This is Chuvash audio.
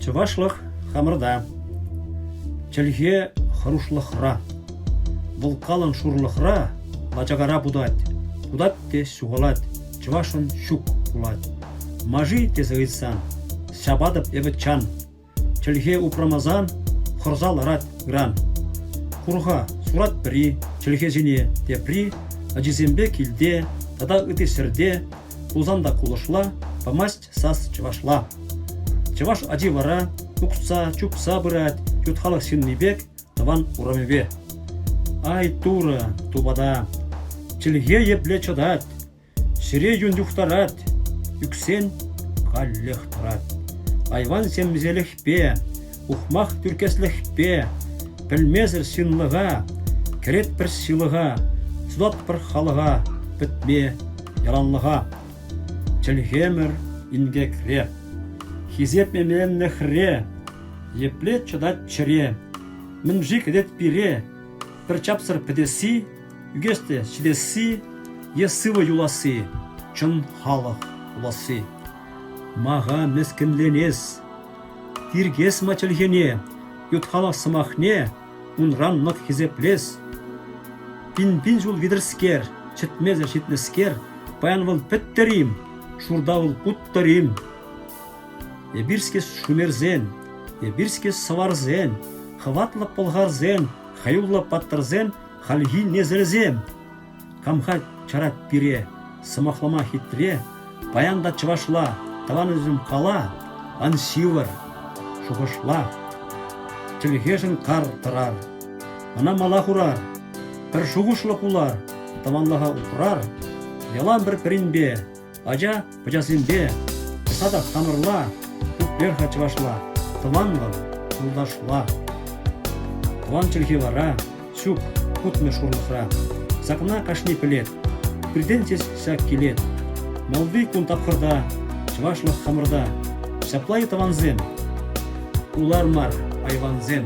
Чӑвашлӑх хамӑрта, чӗлхе хӑрушлӑхра. Вӑл калӑн шурлӑхра лачакара путать, путать те ҫухалать, чӑвашӑн ҫук пулать. Мажи тесе ыйтсан, ҫапатӑп эпӗ чан. Чӗлхе упрамасан хӑрса ларать ыран. Хурха сурать пӗри чӗлхесене, тепри ачисемпе килте тата ытти ҫӗрте пулсан та кулӑшла памасть сас чӑвашла. Чӑваш ачи вара укса, чупса пырать ют халӑх ҫынни пек тӑван урамӗпе. Ай, Турӑ, тупата, чӗлхе епле чӑтать! Ҫӗре юн юхтарать, ӳксен каллех тӑрать. Айван ҫемҫелӗхпе, ухмах тӳркеслӗхпе, пӗлмесӗр ҫынлӑха, кӗрет пӗр ҫылӑха, сутать пӗр халӑха, пӗтме яланлӑха. Чӗлхемӗр инкекре, хисеп эмленнӗ хӗре, епле чӑтать чӗре, мӗн-ши кӗтет пире, пӗр чапсӑр пӗтесси Ӳкес те ҫитесси е сывӑ юласси чӑн халӑх пуласси. Мага мӗскӗнленес, тиркес-ма чӗлхене, ют-халӑх сӑмахне унран мӑк хисеплес. Пин-пин ҫул витӗрскер, чӗтмесӗр ҫитнӗскер, паян вӑл пӗттӗр-им, шурта вӑл уттӑр-им? Эпир-ҫке шумерсен, эпир-ҫке сӑварсен, хӑватлӑ пӑлхарсен, хӑюллӑ паттӑрсен Хальхи несӗлсем! Хам-ха чарать пире, сӑмахлама хитре, паян та чӑвашла, тӑван ӳсӗм кала, ан ҫывӑр, шухӑшла. Чӗлхешӗн кар тӑрар, ӑна мала хурар, пӗр шухӑшлӑ пулар, тӑванлӑха упрар, ялан пӗр-пӗринпе, Ача пӑчасемпе, тӑса та хамӑрла, пуппер-ха чӑвашла, тӑванлӑх, юлташла. Тӑван чӗлхе вара ҫук, путмӗ шурлӑхра. Сакна кашни пӗлет, пиртен-тес ҫак килет. Малти кун тапхӑрта чӑвашлӑх хамӑрта. Ҫапла-и, тӑвансем? Улар мар, айвансем.